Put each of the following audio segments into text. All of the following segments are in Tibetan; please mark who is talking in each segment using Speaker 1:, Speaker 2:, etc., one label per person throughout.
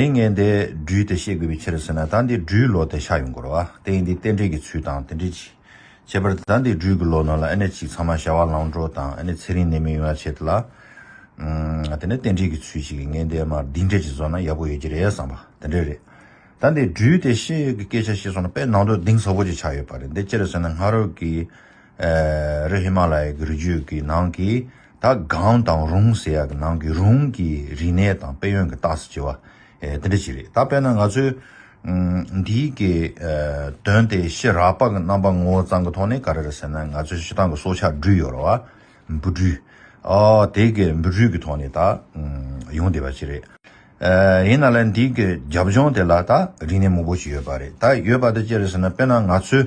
Speaker 1: དེ་ངན་དེ་སྦྲུལ་དེ་ཤེས་དགོས་པའི་ཕྱིར་ཟེར་ན་ད་འདི་སྦྲུལ་ལོ་དེ་ཤ་ཡོང་དགོས་རོ། དེ་ཡིན་དེ་རྟེན་འབྲེལ་གྱི་ཚུལ་དང་དེ་འདྲི་གཅིག། བྱས་པར་ད་འདི་སྦྲུལ་གྱི་ལོ་ནང་ལ་ཨེ་ནས་ཅིག་ཚང་མ་བྱ་བ་ལང་འགྲོ་དང་ཨེ་ནས་ཚེ་རིང་ནད་མེད་ཡོང་ཡ་བྱེད་ལ། དེ་ནས་རྟེན་འབྲེལ་གྱི་ཚུལ་གཅིག་ངན་དེ་མར་སྡིག་འབྲེལ་གྱིས་བཟོ་ན་ཡག་པོ་ཡོད་ཀྱི་རེད་བསམ་པ་དེ་འདྲས་རེད། ད་འདི་སྦྲུལ་དེ་ཤེས་ཡོད་ཀྱི་སྐད་ཆ་བཤད་སོང་ན་དཔེ་ནང་དུ་གདེང་ཟབ་པོ་ཅིག་ཆགས་ཡོད་པ་རེད་འདི་ཅི་རེད་ཟེར་ན་སྔ་རོལ་གྱི་རི་ཧི་མ་ལ་ཡའི་གུར་རྒྱུད་ཀྱི་ནང་གི་ད་གའམ་དང་རུང་ཟེར་ཡག་གི་ནང་གི་རུང་གི་རིག་གནས་དང་དཔལ་ཡོན་གྱི་རྟགས་སུ་བྱེད་པ་དེ་འདྲ་ཞིག་རེད་ད་དཔེར་ན་ང་ཚོས་འདི་གི་དོན་དེ་ཤེས་རག་པ་གི་རྣམ་པ་ངོ་བོ་ཙང་གི་ཐོག་ནས་ག་རེ་རེད་ཟེར་ན་ང་ཚོའི་ཤི་ཐང་གི་སྲོག་ཆགས་སྦྲུལ་ཡོད་ར་བ་འབུ་སྦྲུལ་དེ་གི་འབུ་སྦྲུལ་གི་ཐོག་ནས་ད་ཡོང་བསྡད་པ་ཞིག་རེད། ཡིན་ན་ལ་འདི་གི་རྒྱབ་ལྗོངས་དེ་ལ་ད་རིག་གནས་མང་པོ་ཞིག་ཡོད་པ་རེད་ད་ཡོད་པ་དེ་ཅི་རེད་ཟེར་ན་དཔེར་ན་ང་ཚོས་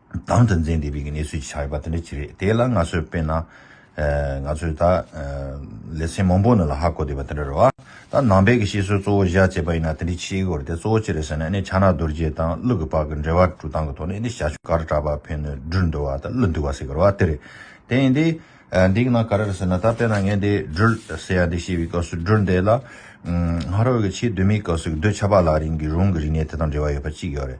Speaker 1: དང་དོན་ཚན་འདི་བོད་ཀྱི་གནས་ཚུལ་གྱི་ཆ་ཡོད་པ་དེ་འདྲ་ཅིག་རེད་དེ་ལ་ང་ཚོས་དཔེར་ན། ང་ཚོས་ད། ལེ་ཚན་མང་པོ་ནས་ལ་ཧ་གོ་བསྡད་པ་དེ་འདྲ་རེད་བ། ད་ནང་པའི་གི་ཤེས་བཟོའི་གཙོ་བོ་བཞག་ཅེས་པ་ཡིན་ན་དེ་འདྲའི་ཆེ་གི་འོ་རེད་དེ་གཙོ་བོ་ཅི་རེད་ཟེར་ན་ནི་ཕྱག་ན་རྡོ་རྗེ་དང་གླུ་གི་བག་གི་འབྲེལ་བ་དཀྲུག་སྟངས་གི་ཐོག་ནས་ནི་ཞྭ་ཆུ་གར་གྲགས་པ་ཕན་ནུས་སྦྲུལ་འདུལ་བ་དང་གླུ་འདུལ་བ་ཟེར་གི་རེད་བ་དེ་རེད། དེ་ཡིན་དུས། འདི་གི་ནང་ག་རེ་རེད་ཟེར་ན་ད་དཔེར་ན་ངས་འདི་སྦྲུལ་ཟེར་ཡ་འདི་བཤད་པའི་སྐབས་སུ་སྦྲུལ་འདི་ལ། སྔ་རོལ་གི་ཕྱི་གདོད་མའི་སྐབས་སུ་གདོད་ཆགས་པ་ལ་རིང་གི་རུང་གི་རིག་གནས་དེ་དང་འབྲེལ་བ་ཡོད་པ་གཅིག་ཡོད་རེད།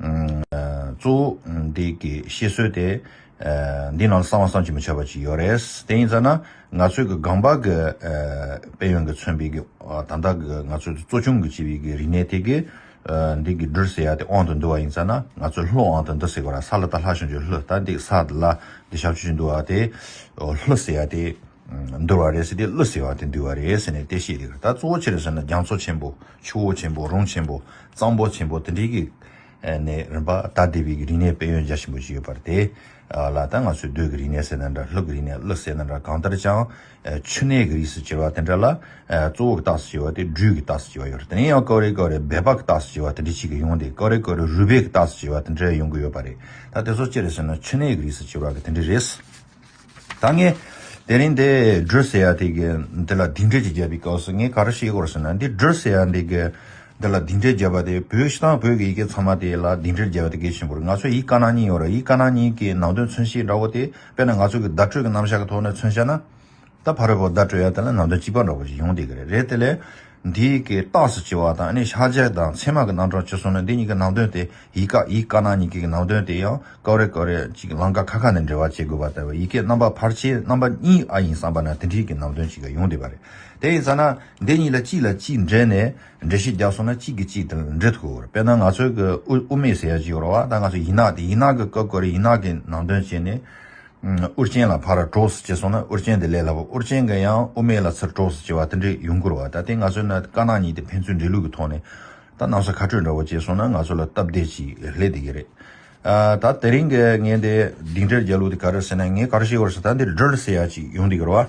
Speaker 1: གཙོ་བོ་འདི་གི་བཤད་སྲོལ་དེ། འདི་ནང་ལ་གསང་བ་བསང་ཅི་མི་བྱ་བ་ཅིག་ཡོད་རེད། དེ་ཡིན་ཙང་ན་ང་ཚོའི་གི་སྒང་པ་གི་དཔལ་ཡོན་གི་མཚོན་པའི་གི་ད་ལྟ་གི་ང་ཚོའི་གཙོ་ཆུང་གི་བྱེད་པའི་གི་རིག་གནས་དེ་གི། འདི་གི་སྦྲུལ་ཟེར་ཡ་དེ་དབང་དུ་འདུ་བ་ཡིན་ཙང་ན་ང་ཚོའི་ལྷོ་དབང་དུ་འདུ་ཟེར་གོ་ར་ས་ལ་ད་ལྷ་བྱང་ཆུབ་ལྷོ་ད་འདི་ས་དེ་ལ་འདི་བྱང་ཆུབ་ཅིག་འདུ་བ་དེ། ལྷོ་ཟེར་ཡ་དེ། འདུར་བ་རེད་ཟེར་དེ་ཀླུ་ཟེར་བ་དེ་འདུལ་བ་རེད་ཟེར་ནས་དེ་བཤད་དེ་གི་ད་གཙོ་བོ་ཕྱིར་ཟེར་ན་རྒྱ་མཚོ་ཆེན་པོ། ཆུ་བོ་ཆེན་པོ་རོང་ཆེན་པོ་གཙང་པོ་ཆེན་པོ་དེ་འདྲའི་གི་ནས་རིམ་པ་ད་ལྟའི་བའི་གི་རིག་གནས་དཔལ་ཡོན་རྒྱ་ཆེན་པོ་ཞིག་ཡོད་པར་དེ་ལ་ད་ང་ཚོས་རྡོའི་གི་རིག་གནས་ཟེར་ན་འདྲ་ལྷོའི་གི་རིག་གནས་ལོ་ཟེར་ན་འདྲ་གང་ལྟར་ཅང་ཆུ་གནས་གི་རིགས་སུ་གྱེར་བ་དེ་འདྲ་ལ་གཙོ་བོ་གི་རྟགས་སུ་གྱེར་བ་དེ་སྦྲུལ་གི་རྟགས་སུ་གྱེར་བ་ཡོད་རེད་དེ་ནས་ཡང་ཀའོ་རེ་ཀའོ་རེ་འབད་པ་གི་རྟགས་སུ་གྱེར་བ་དེ་འདྲའི་ཞིག་གི་ཡོང་དེ་ཀའོ་རེ་ཀའོ་རེ་རུས་སྦལ་གི་རྟགས་སུ་གྱེར་བ་དེ་འདྲ་ཡོང་གི་ཡོད་པ་རེད་ད་དེ་ཚོ་ཅི་རེད་ཟེར་ན་ཆུ་གནས་གི་རིགས་སུ་གྱེར་བ་གི་དེ་འདྲ་རེད། ད་ངས་དེ་རིང་འདི་བསྒྲོད་ཟེར་ཡ་དེ་གི་འདི་ལ་དིང་འདྲེ་ཅིག་བརྒྱབ་པའི་སྐབས་སུ་ངས་ག་རེ་ཤེས་དགོས་ཟེར་ན་འདི་བསྒྲོད་ཟེར་ཡ་འདི་གི་འདི་ལ་དིང་འདྲེ་བརྒྱབ་པ་དེ་བོད་གཞི་དང་བོད་ཀྱི་ཡི་གེ་ཚང་མ་དེ་ལ་དིང་འདྲེ་བརྒྱབ་པ་དེ་གས་ཤིང་བོར་ང་ཚོའི་ཡིག་དཀར་ནག་གཉིས་ཡོད་རེད་ཡིག་དཀར་ནག་གཉིས་ཀྱི་ནང་དོན་མཚོན་བྱེད་འདྲ་བོ་དེ་དཔེར་ན་ང་ཚོ་གི་བརྡ་སྤྲོད་ཀྱི་རྣམ་གཞག་གི་ཐོག་ནས་མཚོན་བྱ་ན། ད་ཕར་བོ་ད་སྤྲོ་ཡ་དེ་ལ་ནང་དོན་གཅིག་པ་འདྲ་བོ་ཞིག་ཡོང་བསྡད་ཀྱི་རེད་རེད་དེ་ལས། འདིའི་གི་རྟགས་སུ་བྱེད་བ་དང་ནི་ཤར་རྒྱལ་དང་ཚད་མ་གི་རྣམ་གྲངས་བྱེད་སོང་ན་འདི་གཉིས་ཀྱི་ནང་དོན་དེ་ཡིག་ཀ་ཡིག་ཀ་ནང་གཉིས་ཀྱི་གི་ནང་དོན་དེ་ཡང་ཀའོ་རེ་ཀའོ་རེ་ཅིག་ལང་ཀ་ཁ་ཁ་ནས་འབྲེལ་བ་བྱེད་དགོས་པ་ལྟ་བུ་ཡི་གེ་རྣམ་པ་ཕར་ཕྱེ་རྣམ་པ་གཉིས་ཨ་ཡིན་བསམ་པ་ན་དེ་འདྲིའི་གི་ནང་དོན་ཅིག་ཡོང་བསྡད་པ་རེད་དེ་ཡིན་ས་ན་འདི་གཉིས་ལ་གཅིག་ལ་གཅིག་འབྲེལ་ནས་འགྲེལ་བཤད་རྒྱག་སོང་ན་གཅིག་གི་གཅིག་དང་འབྲེལ་ཐུག་དཔེར་ན་ང་ཚོའི་གི་དབུ་མེད་ཟེར་ཡ་གཅིག་ཡོད་རོགས་ཨ་ད་ང་ཚོ་ཡིག་ནག་དེ་ཡིག་ནག་གི་ཀའོ་ཀའོ་རེ་ཡིག་ནག་གི་ནང་དོན་བྱས་ནས་ཨུ་རྐྱེན་ལ་ཕར་གྲོགས་སུ་བྱས་སོང་ན་ཨུ་རྐྱེན་དེ་ལས་སླ་བོ་ཨུ་རྐྱེན་འགས་ཡང་ཨུ་མའི་ལ་ཚུར་གྲོགས་སུ་བྱས་བ་དེ་འདྲའི་ཡུན་འགོར་བ་ད་ལྟའི་ང་ཚོའི་ནད་དཀར་ནག་གཉིས་དེ་ཕན་ཚུན་འདྲིས་ལུགས་ཀྱི་ཐོག་ནས་ད་གནམ་ས་ཁ་སྤྲོད་འདྲ་བོ་བྱས་སོང་ན་ང་ཚོ་ལ་སྟབས་བདེ་ཅིག་སླེབས་བསྡད་ཀྱི་རེད། ད་དེ་རིང་གི་ངའི་འདི་སྡིངས་ཁྲིར་རྒྱལ་ལུགས་དེ་ག་རེར་ཟེར་ན་ངའི་ཀར་ཤེལ་བར་སུ་ད་འདིར་སྒྲིལ་ཟེར་ཡག་ཅིག་ཡོང་བསྡད་ཀྱི་རེད་བ།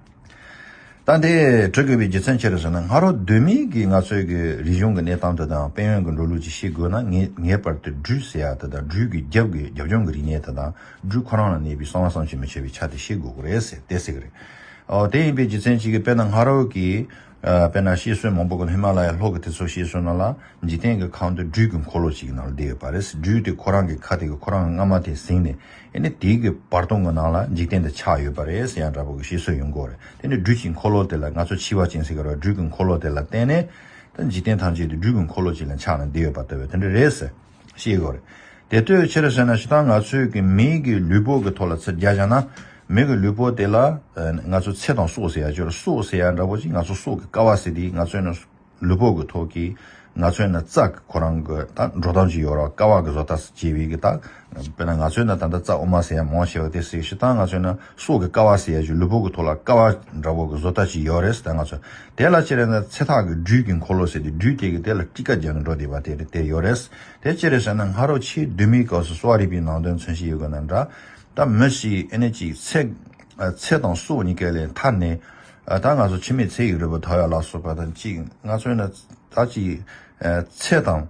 Speaker 1: ད་ལྟའི་བྲོས་དགོས་པའི་རྒྱུ་མཚན་ཅི་རེད་ཟེར་ན་ང་རོ་སྡོད་མིན་གྱི་ང་ཚོའི་གི་རིག་གཞུང་གི་གནས་སྟངས་དེ་དང་དཔལ་ཡོན་གྱི་འགྲོ་ལུགས་ཅིག་ཤེས་དགོས་ན་ངས་ངེས་པར་དུ་སྦྲུལ་ཟེར་ཡག་དེ་དང་སྦྲུལ་གྱི་རྒྱབ་གི་རྒྱབ་ལྗོངས་གི་རིག་གནས་དེ་དང་སྦྲུལ་ཁོ་རང་ལ་གནས་པའི་གསང་བ་གསང་བྱེད་མི་བྱེད་པའི་ཆ་དེ་ཤེས་དགོས་གི་རེད་ཟེར་དེ་ཟེར་གི་རེད། འོ་དེ་ཡིན་པའི་རྒྱུ་མཚན་ཅིག་གིས་དཔེར་ན་ང་རོ་གི། དཔེར་ན་ཤི་གསོན་མང་པོ་གི་ཧི་མ་ལ་ཡའི་ལྷོ་གི་དེ་ཚོ་ཤི་གསོན་ན་ལ་འཇིག་རྟེན་གྱི་ཁང་དུ་སྦྲུལ་གྱི་འཁོར་ལོ་ཞིག་གི་ནང་ལ་བསྡད་ཡོད་པ་རེད་སྦྲུལ་དེ་ཁོ་རང་གི་ཁ་དེ་གི་ཁོ་རང་སྔ་མ་དེ་ཟིང་ནས་ཨེ་ནི་དེ་གི་བར་སྟོང་གི་ནང་ལ་འཇིག་རྟེན་དེ་ཆགས་ཡོད་པ་རེད་ཡང་འདྲ་པོ་གི་ཤི་གསོན་ཡོང་སྒོ་རེད་དེ་ནི་སྦྲུལ་གྱི་འཁོར་ལོ་དེ་ལ་ང་ཚོ་འཆི་བ་ཅན་ཟེར་གི་རེད་སྦྲུལ་གྱི་འཁོར་ལོ་དེ་ལ་བརྟེན་ནས་ད་འཇིག་རྟེན་ཐམས་ཅད་དེ་སྦྲུལ་གྱི་འཁོར་ལོ་ཅིག་ལ་ཆགས་ནས་བསྡད་ཡོད་པ་ལྟ་བུ་དེ་འདྲ་རེད་ཟེར། ཤེས་དགོས་རེད། དེ་ལྟོས་ཕྱིར་བྱས་ན་ཇི་ལྟར་ང་ཚོས་ཀྱི་མི་གི་ལུས་པོ་གི་ཐོག་ལ་ཚིག་རྒྱག་བྱས་ན། མི་གི་ལུས་པོ་དེ་ལ་ང་ཚོས་ཚེ་དང་སྲོག་ཟེར་ཡ་ཆོས་ར་སྲོག་ཟེར་ཡ་འདྲ་པོ་ཅིག་ང་ཚོ་སྲོག་གི་ཀ་བ་ཟེར་དེ་ང་ཚོས་ནི་ལུས་པོ་གི་ཐོག་གི་ང་ཚོས་ནི་རྩ་གི་ཁོ་རང་གི་ད་འགྲོ་སྟངས་ཅིག་ཡོད་རོགས་ཀ་བ་གི་བཟོ་ལྟ་ཟེར་བྱེད་པའི་གི་ད་དཔེར་ན་ང་ཚོས་ནི་ད་ལྟ་རྩ་དབུ་མ་ཟེར་ཡ་མང་ཆེ་བ་དེ་ཟེར་ཞེ་སྟངས་ང་ཚོས་ནི། སྲོག་གི་ཀ་བ་ཟེར་ཡ་ཆུ་ལུད་ཕོག་གི་ཐོག་ལ་ཀ་བ་འདྲ་བོ་གི་བཟོ་ལྟ་ཅིག་ཡོད་རེད་ཟེར་ད་ང་ཚོ་དེ་ལ་ཅེར་རེད་ན་ཚེ་ཐག་གི་སྦྲུལ་གྱི་འཁོར་ལོ་ཟེར་ཏེ་སྦྲུལ་དེ་གི་དེ་ལ་སྤྲི་ཀ་རྒྱག་གི་འགྲོ་བསྡད་པ་དེ་རེད་དེ་ཡོད་རེད་དེ་ཅེར་རེད་ཟེར་ན་ང་རོ་ཕྱིའི་སྡོད་མིའི་སྐབས་སུ་གསོ་བ་རིག་པའི་ནང་དོན་མཚོན་བྱེད་ཡོད་དགོས་ན་འདྲ་ད་མི་ཞིག་ཨེ་ནས་ཅིག་ཚེ་དང་སྲོག་གཉིས་ཀའི་ལས་མཐའ་ནས་ད་ང་ཚོ་ཕྱི་མའི་ཚེ་ཡི་རོལ་པ་དར་ཡག་ལ་སོགས་པ་དང་ཅིག་ང་ཚོས་ན་ད་ཅིག་ཚེ་དང་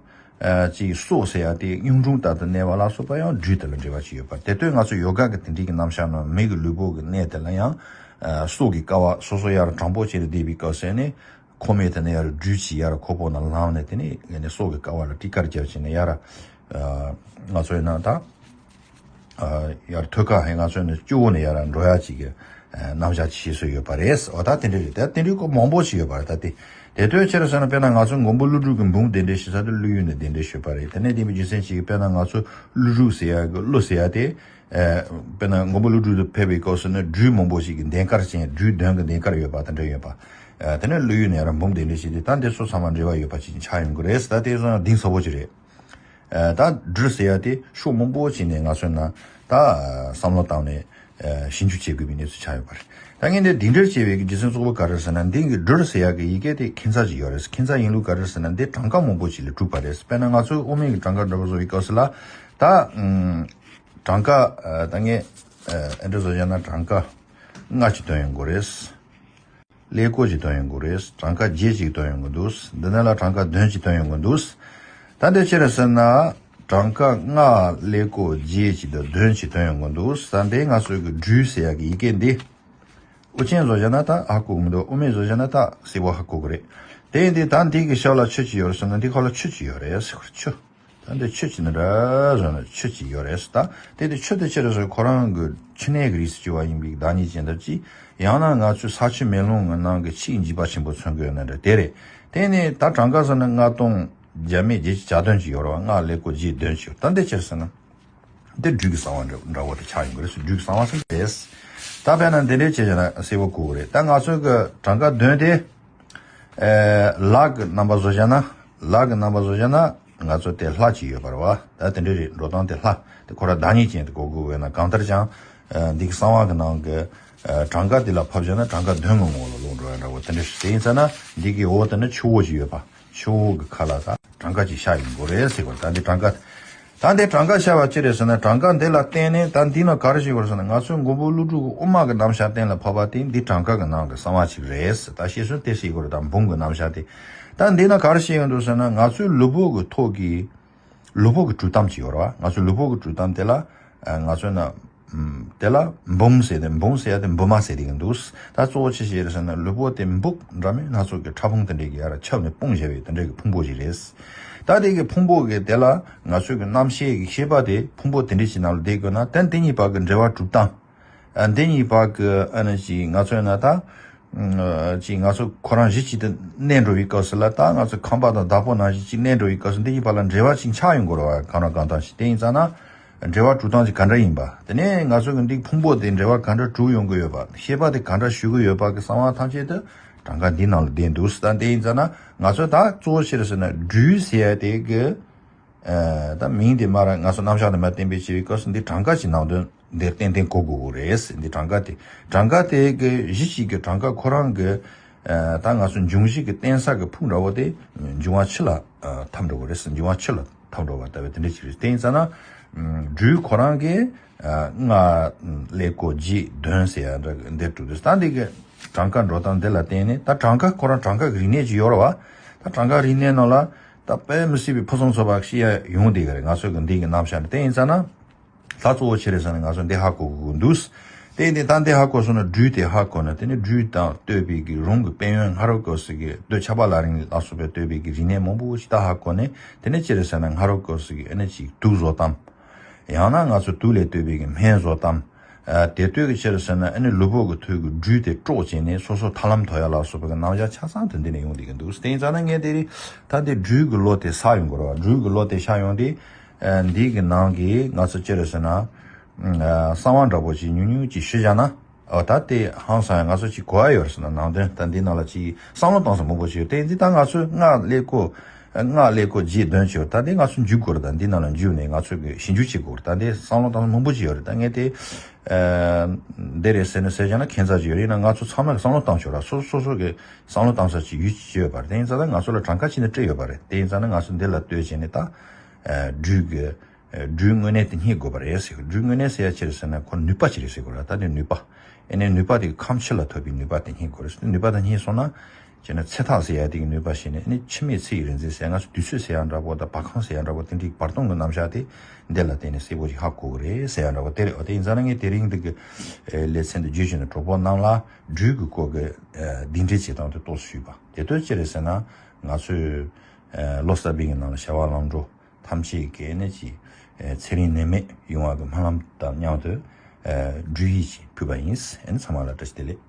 Speaker 1: ཅིག་སོགས་ཟེར་ཡང་དེའི་གཡུང་དྲུང་ལྟར་དུ་གནས་པ་ལ་སོགས་པ་ཡང་སྦྲུལ་དེ་ལ་འབྲེལ་བ་ཅིག་ཡོད་པར་དེ་ལྟོས་ང་ཚོས་ཡོ་ག་གི་དེ་འབྲེལ་གྱི་རྣམ་གཞག་རྣམས་མིག་གི་ལུས་པོ་གི་གནས་དེ་ལ་ཡང། སྲོག་གི་ཀ་བ་སོ་སོ་ཡར་དྲང་པོ་བྱས་ནས་བསྡད་པའི་སྐབས་ཟད་ནས། ཁོ་མོས་དེ་ནས་ཡར་སྦྲུལ་གྱིས་ཡར་ཁོ་བོ་ན་ལངས་ནས་དེ་ནས་སྲོག་གི་ཀ་བ་ལ་སྤྲི་དཀར་རྒྱབ་བྱས་ནས་ཡར། ང་ཚོས་ན་ད། ཡར་ཐོད་ཁ་ཧེ་ང་ཚོས་ནི་བཅུ་བོ་ནས་ཡར་འགྲོ་ཡ་ཅིག་གི་རྣམ་གཞག་བྱེད་སྲོལ་ཡོད་པ་རེད། འོ་ད་དེ་འདྲའི་རེད་དེ་དེ་འདྲའི་སྐོར་མང་པོ་ཞིག་ཡོད་པ་རེད་ད་དེ། དེ་ལྟོས་ཕྱིར་ཟེར་ན་དཔེར་ན་ང་ཚོས་མགོན་པོ་ཀླུ་སྒྲུབ་ཀྱི་འབུམ་དེ་འདྲའི་ཞིག་ས་དེར་ཀླུ་ཡོད་ནས་དེ་འདྲའི་ཞུས་པ་རེད་དེ་ནས་དེ་མི་རྒྱུ་མཚན་ཅིག་དཔེར་ན་ང་ཚོས་ཀླུ་སྒྲུབ་ཟེར་ཡ་ཀླུ་ཟེར་ཡ་དེ། དཔེར་ན་མགོན་པོ་ཀླུ་སྒྲུབ་དུ་ཕེབས་པའི་སྐབས་སུ་ནི་སྦྲུལ་མང་པོ་ཞིག་གི་གདན་དཀར་ཅན་སྦྲུལ་གདོན་གྱི་གདན་དཀར་ཡོད་པ་དང་འདྲ་ཡོད་པ། དེ་ནས་ཀླུ་ཡོད་ནས་ཡར་འབུམ་དེ་འདྲའི་ཞིག་དེ་ད་འདི་སོ་ཚང་མ་འབྲེལ་བ་ཡོད་པ་ཅིག་ཆགས་ཡོང་གི་རེད་ཟེར་ད་དེ་སོ་ན་གདིང་ཟབ་པོ་ཅིག་རེད། ད་སྦྲུལ་ཟེར་ཡ་དེ་ཤོག་མང་པོ་བྱིན་ནས་ང་གསོན་ན་ད་བསམ་བློ་བཏང་ནས་ཞིབ་འཇུག་བྱེད་དགོས་པའི་གནས་ཚུལ་ཆགས་ཡོད་པ་རེད། ད་ངས་འདི་འདི་འདྲར་བྱས་པའི་རྗེས་མཚོན་གཙོ་བོ་ག་རེད་ཟེར་ན་འདི་གི་སྦྲུལ་ཟེར་ཡ་གི་ཡི་གེ་དེ་ཁྱིམ་ཚང་གཅིག་ཡོད་རེད་ཁྱིམ་ཚང་ཡིན་ལུགས་ག་རེད་ཟེར་ན་འདི་གྲངས་ཀ་མང་པོ་ཞིག་ལས་གྲུབ་པ་རེད་དཔེར་ན་ང་ཚོའི་དབུ་མའི་གི་གྲངས་ཀ་འདྲ་པོ་བཟོ་བའི་སྐབས་སུ་ལ་ད་གྲངས་ཀ་ད་ངས་ཨེ་འདྲ་བཟོ་བྱས་ན་གྲངས་ཀ་ལྔ་གཅིག་བཏོན་ཡོང་དགོས་རེད། ཀླད་ཀོར་གཅིག་བཏོན་ཡོང་གི་རེད། གྲངས་ཀ་བརྒྱད་ཅིག་བཏོན་ཡོང་གི་འདུག་འདི་ནས་ལ་གྲངས་ཀ་བདུན་ཅིག་བཏོན་ཡོང་གི་འདུག་ད་འདི་ཅི་རེད་ཟེར་ན། གྲངས་ཀ་ལྔ་ཀླད་ཀོར་བརྒྱད་ཅིག་དང་བདུན་ཅིག་བཏོན་ཡོང་གི་འདུག་ད་འདི་ང་ཚོས་ཀྱི་འབྲུའི་ཟེར་ཡག་གི་ཡི་གེ་འདི། དབུ་ཅན་བཟོ་བཞག་ན་ད་ཧ་གོ་གི་མི་འདུག་དབུ་མེད་བཟོ་བཞག་ན་ད་སིལ་བ་ཧ་གོ་གི་རེད། དེ་ཡིན་དུས་ད་འདི་གི་ཤར་ལ་ཆུ་ཅིག་ཡོད་རེད་ཟེར་ན་འདི་ཁ་ལ་ཆུ་ཅིག་ཡོད་རེད། ཆུ། ད་འདི་ཆོས་ཅི་ན་ར་བཟོ་ན་ཆོས་ཅི་ཡོད་རེད་ཟེར་ད་དེ་དེ་ཆོས་དེ་ཆོས་རེད་ཟེར་ཁོ་རང་གི་ཕྱི་ནས་ཀྱི་རིས་སུ་གྱུར་བ་ཡིན་པའི་བདག་ཉིད་ཅན་ལྟར་གྱིས་ཡང་ན་ང་ཚོའི་ས་ཆུ་མེ་རླུང་ངའི་ནང་གི་ཆིག་འཇིག་པ་ཆེན་པོ་ཚོན་གོས་ན་རེ་དེ་རེད་དེ་ནས་ད་གྲངས་ཀ་ཟེར་ན་ལྔ་སྟོང་བརྒྱ་མེད་བརྒྱད་ཅིག་བྱ་དོན་ཅི་ཡོད་རོ་སྔགས་ལས་གོ་རྗེས་དོན་ཅི་ཡོད་ད་འདི་ཅི་རེད་ཟེར་ན། འདི་སྦྲུལ་གྱི་གསང་བ་འདྲ་བོ་དེ་ཆགས་ཡིན་དགོས་རེད་ཟེར་སྦྲུལ་གྱི་གསང་བ་ཟེར་ན་རེད་ཟེར་ད་བས་ན་འདི་འདྲའི་བྱས་བྱས་ན་སེར་བོ་བཀུག་གོ་རེད་ད་ང་ཚོའི་གི་གྲངས་ཀ་བདུན་དེ། ལག་གི་རྣམ་པ་བཟོ་བྱ་ན། ལག་གི་རྣམ་པ་བཟོ་བྱ་ན། ང་ཚོ་དེ་ལྷ་གཅིག་ཡོད་པར་བ། ད་དེ་འདྲའི་རེད་འགྲོ་སྟངས་དེ་ལྷ། དེ་ཁོ་ར་བདག་ཉིད་ཅན་དེ་གོ་དགོས་བས་ན་གང་ལྟར་ཀྱང། འདི་གི་གསང་བ་གི་ནང་གི། གྲངས་ཀ་དེ་ལ་ཕབ་བྱ་ན་གྲངས་ཀ་དོན་ངོ་ངོ་ལ་ལོག་འགྲོ་ཡང་འདྲ་བོ་དེ་འདྲ་ཞིག་དེ་ཡིན་ས་ན། འདི་གི་འོག་ཏུ་ནི་ཆུ་བོ་ཅིག་ཡོད་པ། ཆུ་བོ་གི་ཁ་ལ། གྲངས་ཀ་ཅིག་ཤ་ཡིན་དགོས་རེད་ཟེར་བར་ད་འདི་གྲངས་ཀ། ད་འདི་གྲངས་ཀ་བཤད་པ་ཅི་རེད་ཟེར་ན་གྲངས་ཀ་འདི་ལ་བརྟེན་ནས་ད་འདི་ནི་ག་རེ་ཞིག་ཡོད་ཟེར་ན་ང་ཚོའི་མགོན་པོ་ཀླུ་སྒྲུབ་ཀྱི་དབུ་མ་གི་རྣམ་བཞག་གཏན་ལ་ཕབ་པ་དེ་འདི་གྲངས་ཀ་གི་ནང་གི་གསང་བ་ཅིག་རེད་ད་ཤེས་སོན་དེ་ཞིག་གོ་རེ་ད་འབུམ་གི་རྣམ་བཞག་དེ་ད་འདི་ན་ག་རེ་ཞིག་ཡོད་འདུག་ཟེར་ན་ང་ཚོའི་ལུས་པོ་གི་ཐོག་གི་ལུས་པོ་གི་དྲུག་གཏམ་ཅིག་ཡོད་རེད་བ་ང་ཚོའི་ལུས་པོ་གི་དྲུག་གཏམ་དེ་ལ་ང་ཚོའི་ན། དེ་ལ་འབུམ་ཟེར་ཏེ་འབུམ་ཟེར་ཡ་དེ་འབུམ་མ་ཟེར་ཏེ་ཡང་འདུག་ད་གཙོ་བོ་ཅི་ཞིག་རེད་ཟེར་ན་ལུས་པོ་དེ་འབུག་འདྲ་མིན་སྣ་ཚོགས་ཀྱི་ཕྲ་ཕུང་དེ་འདྲས་ཀྱིས་ཡར་ར་ཁྱབ་ནས་དཔུང་བཞེས་པའི་དེ་འདྲས་ཀྱི་ཕུང་པོ་ཞིག་རེད། ད་དེ་ཀྱི་ཕུང་པོ་གི་དེ་ལ་ང་ཚོས་ཀྱི་རྣམ་ཤེས་ཀྱི་ཤེས་པ་དེ་ཕུང་པོ་དེ་འདྲས་ཀྱི་ནང་ལ་བསྡད་དགོས་ན་དེ་འདི་གཉིས་བར་གྱི་འབྲེལ་བ་གྲུབ་སྟངས་འདི་གཉིས་བར་གྱི་ཨ་ནི་ཅིག་ང་ཚོས་ན་ད་ཅིག་ང་ཚོ་ཁོ་རང་གཞི་གཅིག་ཏུ་གནས་འགྲོ་བའི་སྐབས་སུ་ལ་ད་ང་ཚོ་ཁམས་པ་དང་བདག་པོ་རྣམས་གཞི་གཅིག་གནས་འགྲོ་བའི་སྐབས་སུ་འདི་གཉིས་བར་ལ་འབྲེལ་བ་ཅིག་ཆགས་ཡོང་དགོས་ར་བ་གང་ར་གང་ལྟར་ཞིག་དེ་ཡིན་ཙང་ན་འབྲེལ་བ་གྲུབ་སྟངས་ཀྱི་ག་འདྲ་ཡིན་པ། དེ་ནས་ང་ཚོས་གི་འགྲིག་ཕུང་པོ་དེ་འབྲེལ་བ་ག་འདྲ་གྲུབ་ཡོང་གི་ཡོད་པ་ཤེས་པ་དེ་ག་འདྲ་ཞུ་གི་ཡོད་པ་གི་གསང་བ་ཐམས་ཅད་དུ་གྲངས་ཀ་འདི་ནང་ལ་བསྡད་འདུག་ཟེར་ད་དེ་ཡིན་ཙང་ན་ང་ཚོས་ད་གཙོ་བོ་ཕྱིར་ཟེར་ན་སྦྲུལ་ཟེར་དེ་གི་ད་མིང་དེ་མ་ར་ང་ཚོ་རྣམ་གཞག་དེ་མ་བསྟན་པའི་ཕྱིར་སྐབས་སུ་འདི་གྲངས་ཀ་ཞིག་ནང་དོན་འདིར་ཏན་ཏན་གོ་དགོས་གི་རེད་འདི་གྲངས་ཀ་དེ་གྲངས་ཀ་དེ་གི་གཞི་གཅིག་གི་གྲངས་ཀ་ཁོ་རང་གི་ད་ང་ཚོ་འབྱུང་བཞི་གི་རྟེན་ས་གི་ཕུག་འདྲ་བོ་དེ་འབྱུང་བ་ཕྱི་ལ་འཐབ་འགྲོ་གི་རེད་འབྱུང་བ་ཕྱི་ལ། ཐང་འགྲོ་བ་ལྟ་བུ་དེ་འདྲ་ཞིག་རེད་དེ་ཡིན་ས་ན། སྦྲུལ་ཁོ་རང་གིས་སྔར་ཀླད་ཀོ་རྗེས་ལྡོན་ཟེར་ཡ་འདྲ་འདིར་གྲུབ་འདུག་ད་འདི་གི་གྲངས་ཀ་འགྲོ་སྟངས་འདི་ལ་བརྟེན་ནས་ད་གྲངས་ཀ་ཁོ་རང་གྲངས་ཀ་གི་རིག་གནས་ཀྱི་ཡོལ་བ། ད་གྲངས་ཀ་རིག་གནས་ནང་ལ་ད་དཔེ་མི་སྲིད་པའི་ཕུན་སུམ་ཚོགས་པ་ཤེས་ཡ་ཡོང་འདི་གི་རེད་ང་ཚོས་གི་འདི་གི་རྣམ་གཞག་ནི་དེ་ཡིན་ས་ན། ལྷ་གཙོ་བོ་ཆེ་རེད་བསམ་ནས་ང་ཚོ་འདི་ཧ་གོ་གི་གི་འདུག། དེ་ནས་ད་འདི་ཧ་གོ་སོང་ན་སྦྲུལ་དེ་ཧ་གོ་ན་དེ་ནི་སྦྲུལ་དང་ལྟོས་པའི་གི་རུང་གི་དཔལ་ཡོན་ངྷ་རོ་ཀོ་སི་གི་ལྟོས་ཆ་པ་ལ་རིང་ལ་སོགས་པའི་ལྟོས་པའི་གི་རིག་གནས་མང་པོ་ཞིག་ད་ཧ་གོ་ནས་དེ་ནི་ཅི་རེད་བསམ་ན་ངྷ་རོ་ཀོ་སི་གི་ཨེ་ན་ཅིག་དུག་བཟོ་སྟངས། ཡང་ན་ང་ཚོ་དུག་ལས་ལྟོས་པའི་གི་སྨན་བཟོ་སྟངས། དེ་ལྟོས་གི་ཕྱིར་རེད་བསམ་ན་ཨེ་ནི་ལུས་པོ་གི་ཐོད་གི་སྦྲུལ་དེ་དཀྲོག་བྱས་ནས་སོ་སོ་ཐར་ལམ་དོ་ཡ་ལ་སོགས་པའི་གི་རྣམ་གཞག་ཆ་ཚང་དུ་འདི་ནས་ཡོང་བསྡད་གི་འདུག་དེ་ཡིན་ཙང་ན་ངས་དེ་རིང་ད་འདི་སྦྲུལ་གི་ལོ་དེ་ཟག་ཡོང་དགོས་ར་བ་སྦྲུལ་གི་ལོ་དེ་ཤར་ཡོང་སྟེ་འདི་གི་ནང་གི་ང་ཚོ་ཅི་རེད་ཟེར་ན། གསང་བ་འདྲ་པོ་ཅིག་ཉུང་ཉུང་ཅིག་ཞུ་བཞག་ན། འོ་ད་དེ་ཧང་སང་ཡང་ང་ཚོ་ཅིག་གོ་ཨ་ཡོད་རེད་ཟེར་ན་ནང་དོན་ད་འདི་ནང་ལ་ཅིག་བསམ་བློ་གཏང་ས་མང་པོ་ཞིག་ཡོད་དེ་འདི་ད་ང་ཚོས་སྔགས་ཀླད་ཀོ། སྔགས་ཀླད་ཀོ་རྗེས་ཟློས་བྱས་ད་འདི་ང་ཚོས་འཇུག་དགོས་རེད་ད་འདི་ནང་ལ་འཇུག་ནས་ང་ཚོས་གི་ཞིབ་འཇུག་བྱེད་དགོས་རེད་ད་འདི་བསམ་བློ་གཏང་ས་མང་པོ་ཅིག་ཡོད་རེད་ད་ངས་དེ། འདི་རེད་ཟེར་ནས་ཟེར་བཞག་ན་ཁྱད་མཚར་ཅིག་ཡོད་རེད་ཡིན་ན་ང་ཚོ་ཚང་མས་བསམ་བློ་གཏང་ཆོག་ར་སོ་སོ་སོ་སོ་གི་བསམ་བློ་གཏང་ས་ཅིག་ཡུལ་ཅིག་ཡོད་པ་རེད་དེ་ཡིན་ཙང་ན་ང་ཚོ་ལ་གྲངས་ཀ་ཅིག་ནས་སྤྲད་ཡོད་པ་རེད་དེ་ཡིན་ཙང་ན་ང་ཚོས་འདི་ལ་ལྟོས་བྱས་ནས་ད། སྦྲུལ། སྦྲུལ་དངོས་གནས་དེ་སྙེད་དགོས་པ་རེད། སྦྲུལ་དངོས་གནས་ཟེར་ཡ་ཅི་རེད་ཟེར་ན་ཁོ་ནུས་པ་ཅི་རེད་ཟེར་དགོས་ར་ད་ནི་ནུས་པ། ཨེ་ནས་ནུས་པ་དེ་གི་ཁམས་ཕྱི་ལ་ཐོབ་པའི་ནུས་པ་དེ་སྙེད་དགོས་རེད། ནུས་པ་དེ་སྙེད་སོང་ན། ཅེ་ན་ཚེ་ཐག་ཟེར་ཡ་དེ་གི་ནུས་པ་ཞེས་ནས་ཨེ་ནས་འཆི་མེད་ཚེ་ཡི་རིག་འཛིན་ཟེར་ང་ཚོ་དུས་ཚོད་ཟེར་ཡ་འདྲ་པོ་དང་བ་གང་ཟེར་ཡ་འདྲ་པོ་དེ་འདྲའི་བར་སྟོང་གི་རྣམ་གཞག་དེ་འདི་ལ་བརྟེན་ནས་གསལ་པོ་ཞིག་ཧ་གོ་གི་རེད་ཟེར་ཡ་འདྲ་པོ་དེ་རེད། དེ་ཡིན་ཙང་ན་ངས་དེ་རིང་འདི་གི་ལེ་ཚན་དུ་བརྗོད་བྱས་ནས་གྲོགས་པོ་རྣམས་ལ་སྦྲུལ་གི་སྐོར་གྱི་གདིང་འདྲེ་བྱེད་སྟངས་དེ་གཏོགས་སུ་ཞུས་པ་དེ་དོན་ཅི་རེད་ཟེར་ན། ང་ཚོས། ལོ་གསར་པའི་ནང་ལ་བྱ་བ་ལམ་འགྲོ་ཐམས་ཅད་གལ་གནད་ཀྱི་ཚེ་རིང་ནད་མེད་ཡོང་བ་གི་སྨོན་ལམ་དང་མཉམ་དུ་འབྲུ་ཡིས་ཅིག་ཕུལ་བ་ཡིན། ཚང་མ་ལ་བཀྲ་ཤིས་བདེ་ལེགས།